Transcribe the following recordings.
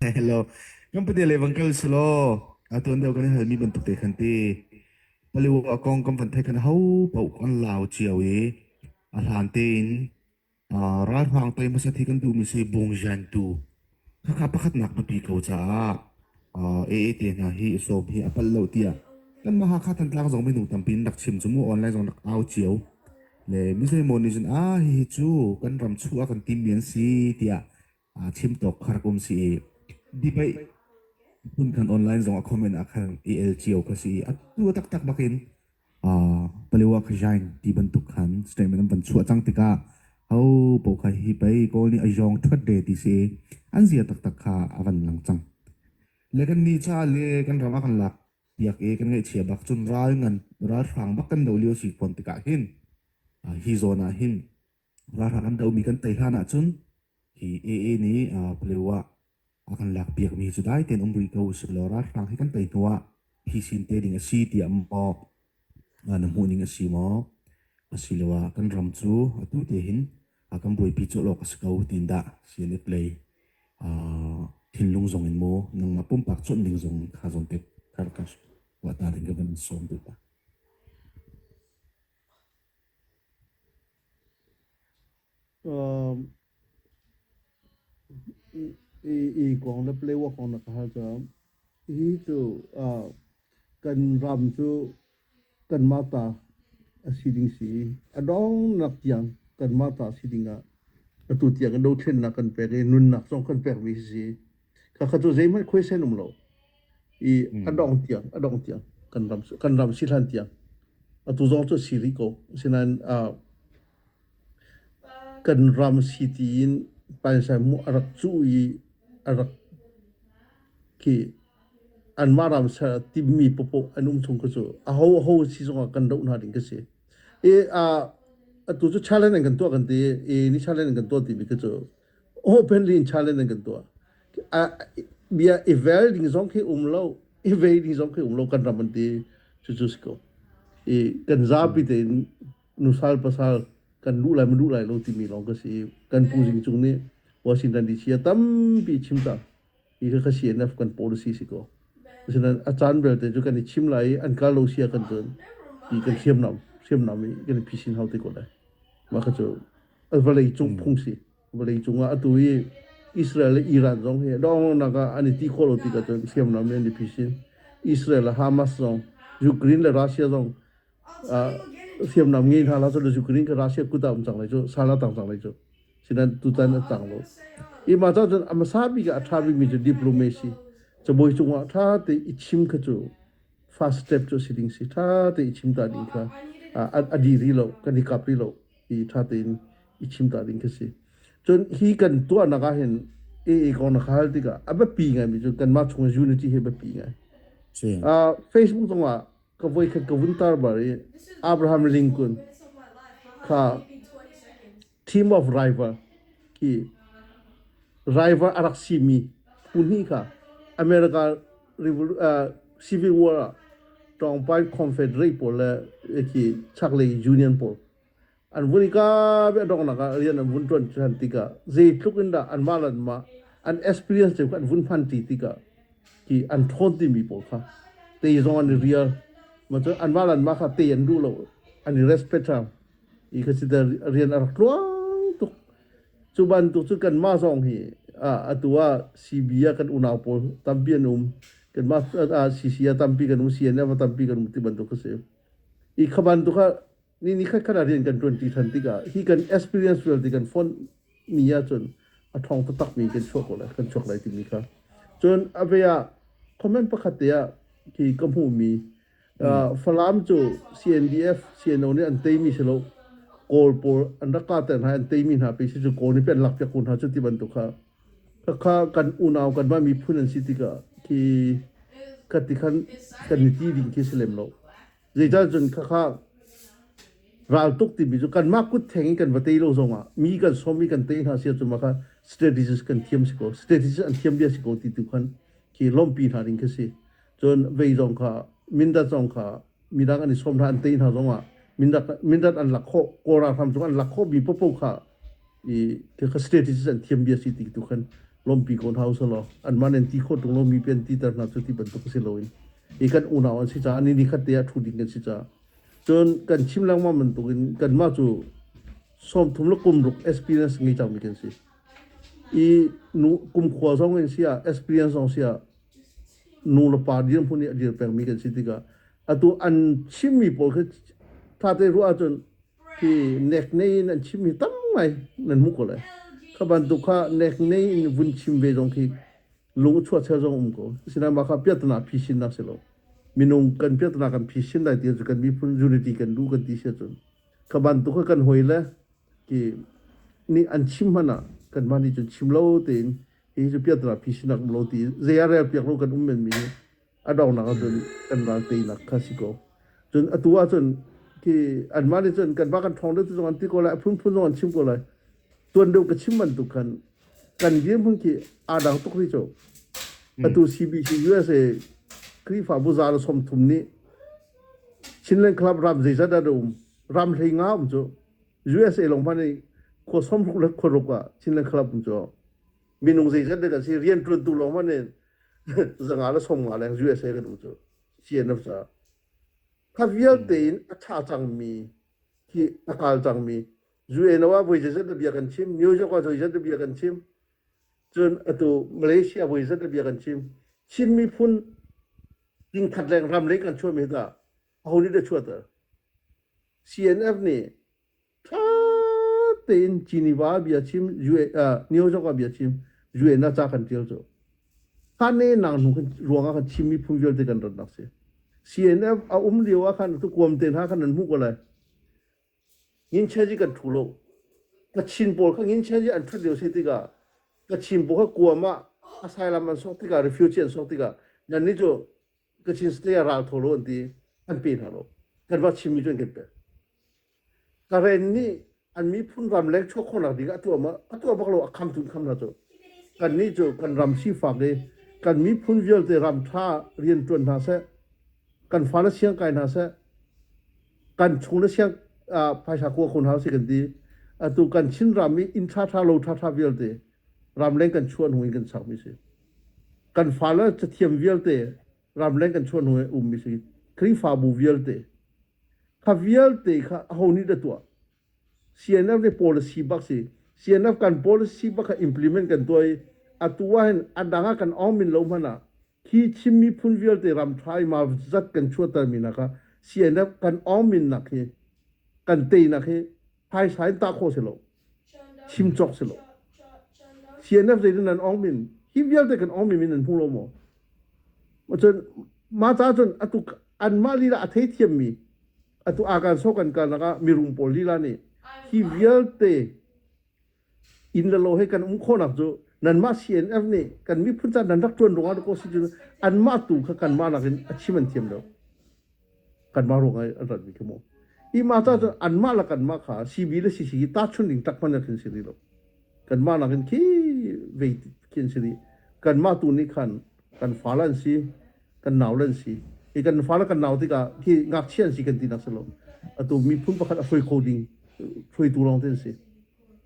Hello. Kan pate levang kal sulo. Atuan deu kan hal mi bantuk te khan ti. Paliwa kong kan van thai kan hau pau kan lau chiao i a hlan tein Uh, ralhraang pei hmasat hi kan duhmi si bungzian tu khakha pakhatnak hnupi ko caah uh, AAT hna hi som hi a pal lo tiah kan mahakha thantlang zong minu tampi in rak chim cu mu online zong rak au cio le misei mo nih cun a hi hi cu kan ram chu a kan tim mi an si tiah aa chim tawk khar kum si i dipei hmun khan online zong a comment ah khan i el cio ka si a tu taktak bakin uh, palewa ka jain ti bantuk khan statement an van chua chang tika ho po kha hi pai kol ni ajong thot de ti si an zia tak tak kha avan lang chang lekan ni cha le kan rama kan lak yak e kan ngai chia bak chun ral ngan ral hrang bak kan do liu si kon tika hin hi zona hin Ralhrang an dohmi kan tei hlan ahcun hi AA nih Palewa a kan lakpiakmi cu dai tein um rih ko sihmanhlaw ralhrang hi kan tei hnuah hi sin te ding a si tiah maw na hmuhning a si maw asiloah kan ram cu atu te hin kan buaipi colh awk a si ko tiin dah CNF lei thinlung zong in maw nangmah pumpak cuanh ding zong kha zawn te kan ruat hna ding kan sawm duh hna. Ii kong le playwork kong na ka hal cang. Hi cu kan ram cu kanmah ta a si ding si i a dongnak tiang kanmah ta si ding ah atu tiang i dothlennak kan pek i nunnak zong kan pek mi si. Khakha cu zeihmanh khuaisen an um lo. I an dong tiang, a dong tiang kan ram kan ram si hlan tiang. Atu zong cu si rih ko. Sinain uh, kan ram si ti in painsan mu a rak cu i a rak ki anmah ram ser timmi popo an um chung ka cu a ho a ho si zongah kan doh hna ding ka si. E a atu cu challenge an kan tuah kan ti e ni challenge an kan tuah ti mi ka cu openly in challenge an kan tuah bia i vel ding zong khi um lo i ve ding zong khi um lo kan ram an ti cucu si ko i kan zapi tein nusal pasal kan lu lai lu lai lo timi lawng ka si kan pu jing cung nih washington dc a tampi chim cang i ka CNF kan policy si ko asinain a caan belte cu kan i chim lai i an kal lo sia kan cun ti kan thiam nam hriam nam i kan i phisin hau te ko lai mah kha cu vawlei cung phung si vawlei cung ah atu i Israel le Iran zong hi donghnak ah an i ti khawh lo ti ka cun hriam nam i an i phisin Israel le Hamas zong Ukraine le Russia zong hriamnam nge hna la cu chu kring ka Russia kuta um chang lai chu sala tang chang lai chu sinan tutan atang lo i ma cha chun amasa bi ga atha bi mi chu diplomacy chu boi chunga tha te ichim kha chu fast step chu siding si tha te ichim ta ding kha adi ri lo kan hi kap ri lo i tha te in ichim ta ding kha si chun hi kan tu anaka hin e e kon khal tika abe pi ngai mi chu kan ma chung unity he be pi ngai facebook tonga ka voi khat ka vun tar bar i Abraham Lincoln kha team of rival i rival a rak simi phu hnih kha America civil war ah tawngpai confederate pawl le ki chaklei union pawl an vun i ka ve dongnak ah rian an vun tuan ṭhan tikah zeitluk in dah anmah le anmah an experience cu an vun hman ṭi tikah ki an ṭhawn timi pawl kha te zong an i rial macu anmah le anmah kha te an duh lo an i respect hram i kha si rian a rak tluang tuk cu bantuk cu kanmah zong hi atu ah CB ah kan unau pawl tampi an um kanmah CC a tampi kan um CNF a tampi kan um ti bantuk kha si i kha bantuk kha ni ni khat khat ah rian kan ṭuanṭi ṭhan tikah hi kan experience vialte kan fonh ni ahcun a ṭhawng taktakmi kan chuak ko lai kan chuak lai timi kha cun a ve ah comment pakhat te ah khi ka hmuhmi Falam cu CNDF CNO nih an teimi si lo kawl pawl an rak kahter hna an teimi hna pe si cu kawl nih pian lakpiak hna cu ti bantuk kha khakha kan unau kan mah miphun an si tikah khi kati khan kan ni ti ding khi si lem lo Zeitan cun khakha raltuk timi cu kanmah kut theng in kan va tei lo zongah mi kan som i kan tei hna sia cu maka strategies kan thiam si ko strategies an thiam bia si ko ti tu khan khi lawmpi hna ding khi si cun vei zong kha mindat zong kha midang an i som hna an tei hna zongah mindat mindat an lak khawh kora hram cu an lak khawh mi popo kha i te kha strategies an thiam bia si ti tu khan lawmpi ko hna usah law anman an ti khawh tung lomi pi an ti ter hna cu ti bantuk si loin i kan unau an si caah ni ni khat te ah thu ding kan si caah cun kan chim lengmang bantuk in kanmah cu som thum le kum ruk experience ngei cangmi kan si i nu kum khua zong in si ah experience zong si ah nu le pa dir hmun i a dir pengmi kan si tikah atu an chimmi pawl khi thate ruah ahcun hi nek nei in an chim hi tam ngai nan hmu ko lai kha bantuk kha nek nei in vun chim ve zong khi lung chuah char zong um ko sina ma kha piatna phisin nak se lo minung kan piatna kan phisin lai ti cu kan miphun unity kan du kan ti se cun kha bantuk kha kan hoi le ki ni an chim hana kan mani cun chim lo te in hi cu piatna phisin nak lo ti zeyare piak lo kan um men mi hi a donak ahcun kan ral teinak kha si ko cun atu ahcun ti anmah nih cun kan mah kan thawng deuh zong an ti ko lai a phunphun zong an chim ko lai tuan deuh ka chim bantuk khan kan dirhmun khi aa dang tuk ri co atu CBC USA Krifabu zala som thum nih Chinland Club ram zeizat dah um ram hlei nga um cu USA long pan ni kho som ruk le kho ruk ah Chinland Club um cu minung zeizat dah si rian tuan tu long pan ni zanga la som nga leng USA kan u cu CNF sa kha vialte in a tha cangmi hi a hal cangmi UN wa voi zat bia kan chim New York wa voi zat bia kan chim cun atu Malaysia voi zat bia kan chim Chin miphun ding khat leng ram lei kan chuami da ahoni da chuata CNF nih ṭha tein Geneva bia chim New York ah bia chim UN ah ca kan ṭial cu khane nang nu kan ruang ah kan chim mi phung vialte kan rat nak si CNF a um lio ah khan tu kuam te hna khan an hmuh ko lai ngin che ji kan thu lo kachin pawl kha ngin che ji an ṭhat lio si tikah kachin pawl kha kuam ah a sai lam an sok tikah refugee an sok tikah nannih cu Kachin state ral tholo an ti an pe hna lo kan va chimmi cu an kan pe karen nih an miphun ramleng chuak khawhnak ding a tuah ma a tuah bak lo a kham tun kham na cu kan nih cu kan ram sifak i kan miphun vialte ram tha rian tuan hna se kan fa na siang kai hna se kan chung na siang phaisa kua khon hau si kan ti atu kan chin ram i in tha tha lo tha tha vialte ramleng kan chuan hung in kan sakmi si kan fale cathiam vialte ramleng kan chuan hnu ummi si khrihfabu vialte kha vialte kha ho nih da tuah CNF ne policy bak si CNF kan policy bak kha implement kan tuai atu ahin adanga kan omin lo mana khi chimmi phun vialte ram trai ma zat kan chuatar mina kha CNF kan omin nak hi kan te nak hi phaisa in ta kho selo chim chok selo CNF zei nan ong min him vialte kan ong min nan hmu lo mo ma chun ma ta chun atu an ma lila a thei thiam mi atu akan so kan ka naka mirum pol lila ni hi vialte inn le lo he kan um khawhnak cu nanmah CNF nih kan miphun caah nan rak ṭuan ruangah ko si cu anmah tu kha kanmah nakin a chim an thiam lo kanmah ruangah an ratmi khi mu hi ma ca cu anmah le kanmah kha CB le CC hi tahchun ding tak hman khin si rih lo kanmah nakin khi vei khin si rih kanmah tu nih khan kan fa an si kan nau lan si hi kan fale kan nau tikah khi ngakchia an si kan tinak si lo atu miphun pakhat a hruai kho ding hruaitu lawng te an si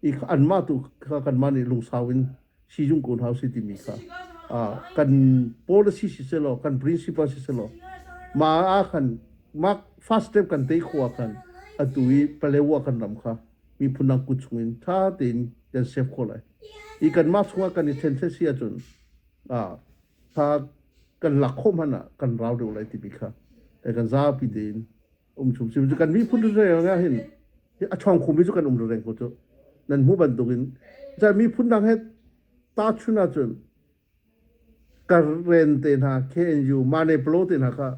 i an mah tu kha kan mah nih lungsau in si jung kun hau si timi kha kan policy si se lo kan principle si se lo ma a khan ma first step kan te khua khan atu i palewa kan ram kha mi phunang ku chungin tha tein kan save kho lai i kan ma chunga kan i then se si achun a Hla kan lak khawh hmanh ah kan rau deuh lai tibi kha kan zapi din um chung sim cu kan miphun reng ah hin a chong khum mi cu kan um reng ko cu nan mu bantukin cha miphun dang het ta chuna chun karen te na KNU mane plo te na kha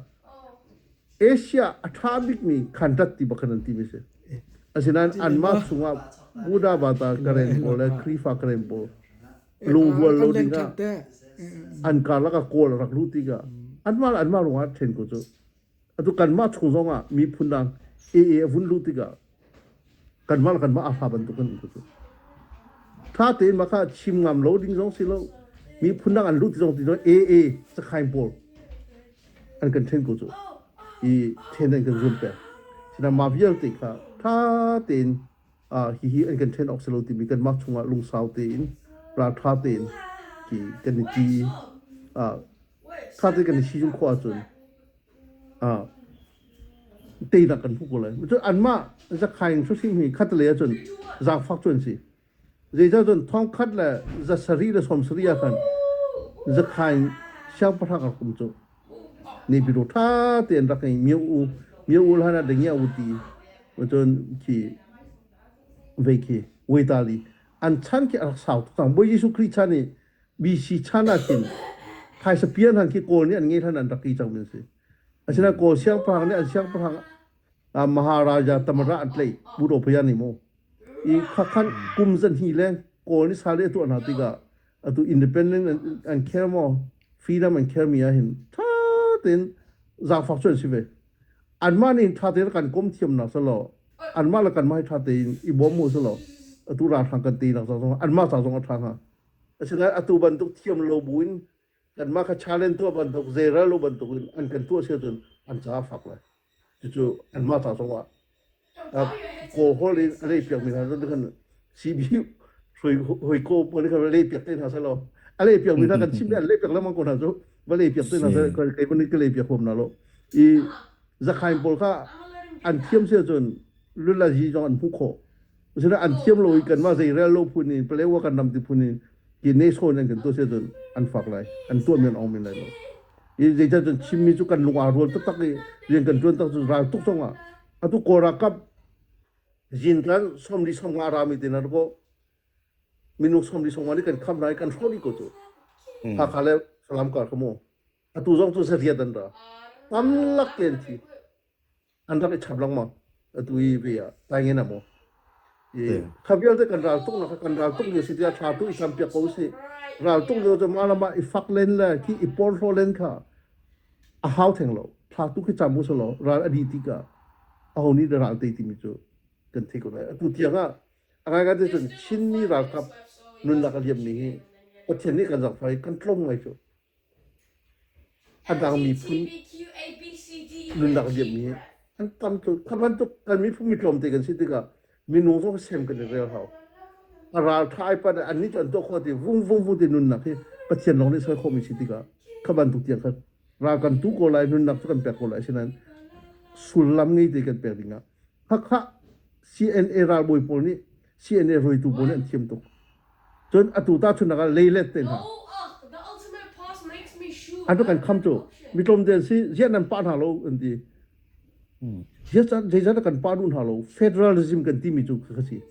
Asia a tha bik mi khantat ti bakanan ti mi se asinan anma chunga buda bata karen pol le krifa karen pol lunghual lo ding ah an karlak ah kawl rak luh tikah anmah anmah ruangah ṭhen ko cu atu kanmah chung zongah miphun dang ee a vun luh tikah kanmah kanmah a hla bantuk kan cu tha tein maka chim ngam lo ding zong si lo miphun dang an luh ti zong ti zong ee sakhain pawl an kan ṭhen ko cu i ṭhen an kan zun pek sina ma vialte kha tha tein hihi an kan ṭhen awk si lo timi kanmah chungah lungsau tein ralṭha tein hi kan i ṭi i kha te kan i sizung khawh ahcun teinak kan hmu ko lai cun anmah zakhaing susim hi khatlei ahcun zaangfak cu an si zeicah cun thongkhat le za sarih le sawm sarih ah khan zakhaing siangpahrang a kum cu Nipiru ṭha tein rak hei mio u, mio u hlan ah dingia u ti. Cun khi vei khi vuital i an chan khi a rak sau tuk cang. Bawi Jesuh Khrih chan i BC chan ah khin phaisa piar hlan khi Kawl nih an ngei hlan an rak i cangmi an si. Asinain Kawl siangpahrang nih an siangpahrang ah Maharaja Tamara an tlaih. Budo phayan ni maw? Khua khan kum zanhnih le kawl ni sale a tuah hna tikah atu independent an, an care maw freedom an care mi ah hin tha tein zaangfak cu an si ve anmah nih tha tein kan kom thiam nak salo anmah le kanmah hi tha tein i bawm mu salo atu ralhrang kan ti nak zong anmah ca zong a tha hnga asinain atu bantuk thiam lo bu in Kanmah kha challenge tuah bantuk zeiral lo bantuk in an kan tuah si cun an caah fak lai. Cucu anmah ta zongah kawhol in an ei piakmi hna cu kan CBU hoi ko pawl kan lei piak te hna sa lo. A lei piak mi hna kan chim le lei piak lemang ko hna cu va lei piak te hna sa kai kai ban ka lei piak hom na lo. I zakhain pawl kha an thiam si cun lulazi zong an hmu khawh. Usira an thiam lo i kanmah zeirel lo phun in Palewa kan ram ti phun in ki nation an kan to se cun an fak lai an tuah men ong men lai lo i zeicah cun chimmi cu kan lungah rual taktak i rian kan tuan tak cu ral tuk cang ah atu kora kap zin kan somri somnga rami te na ko minung somri somnga ni kan kham lai kan hroni ko cu hmm. hakha le salam kar kamo atu zong cu sariat an ra tam lak ten thi an rak i chap lengmang atu i ve ah tai ngen a maw i kha vialte kan ral tuk nak kan ral tuk ni si tiah thla tu i sam piak ko si ral tuk lio cu ma lama i fak len le ki i por hlo len kha a hau theng lo thla tu khi cham mu so lo ral adi ti ka a honi de ral te ti mi cu kan thei ko lai atu tiang a agai ga te cun chinmi ralkap nun lak a liam ni hi pathian nih kan zak fai kan tlong ngai cu A dang miphun nunnak a liam i an tam tuk. Kha bantuk kan miphun mi tlawmte kan si tikah minung zong sem kan i rel hau. A ralṭha ai pat annih cu an tuah khawh ti vung vung vung ti nunnak hi Pathian lawng nih soi khawhmi si tikah kha bantuk tiang khan ral kan tu ko lai, nunnak cu kan pek ko lai. Asinain sullam ngei te kan pek dingah Hakha CNA ralbawi pawl nih CNA hruaitu pawl nih an thiam tuk. Cun atu tahchunhnak ah leilet te hna. An rak kan kham cu mitlawmte an si ziah nan pah hna lo an ti. Ziah zeizat a kan pah duh hna lo federalism kan timi cu ka si.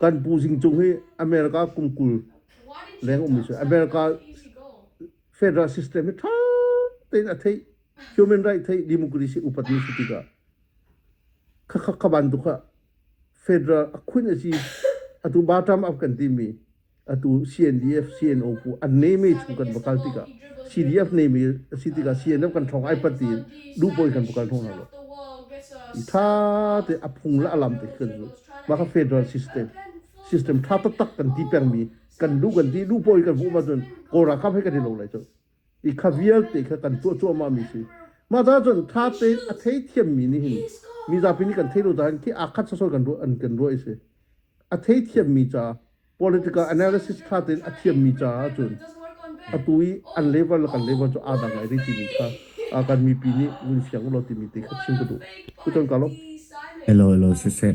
Kan pu Zing Cung hi America kum kul leng um si America federal system hi tha tein a theih human right theih democracy upat ni si tikah kha kha ka ban tuk ha Federal a khun a si atu Batam af kan timi atu CNDF CNO ku an neme chu kan va kal tikah CDF neme a si tikah CNF kan thong ai pati duhpoi kan vakal thong lo i tha te a phung la alam te kan zu ma ka federal system system tha tak tak kan ti pengmi kan lu kan ti duhpoi kan vu ma cun kora kam he kan ti lo lai cu i kha vialte kha kan tuah cuahmah mi si mah caah cun tha tein a thei thiam mi nih hin mi zapi nih kan thei lo caah khi aa khat sosol kan ruah an kan ruah i si a thei thiam mi ca political analysis tha tein a thiam mi caah cun atu i an level le kan level cu aa dang ngai rih timi kha a kan mipi nih vun fiang ulaw timi te kha chim ka duh kuchan ka lo hello hello siseh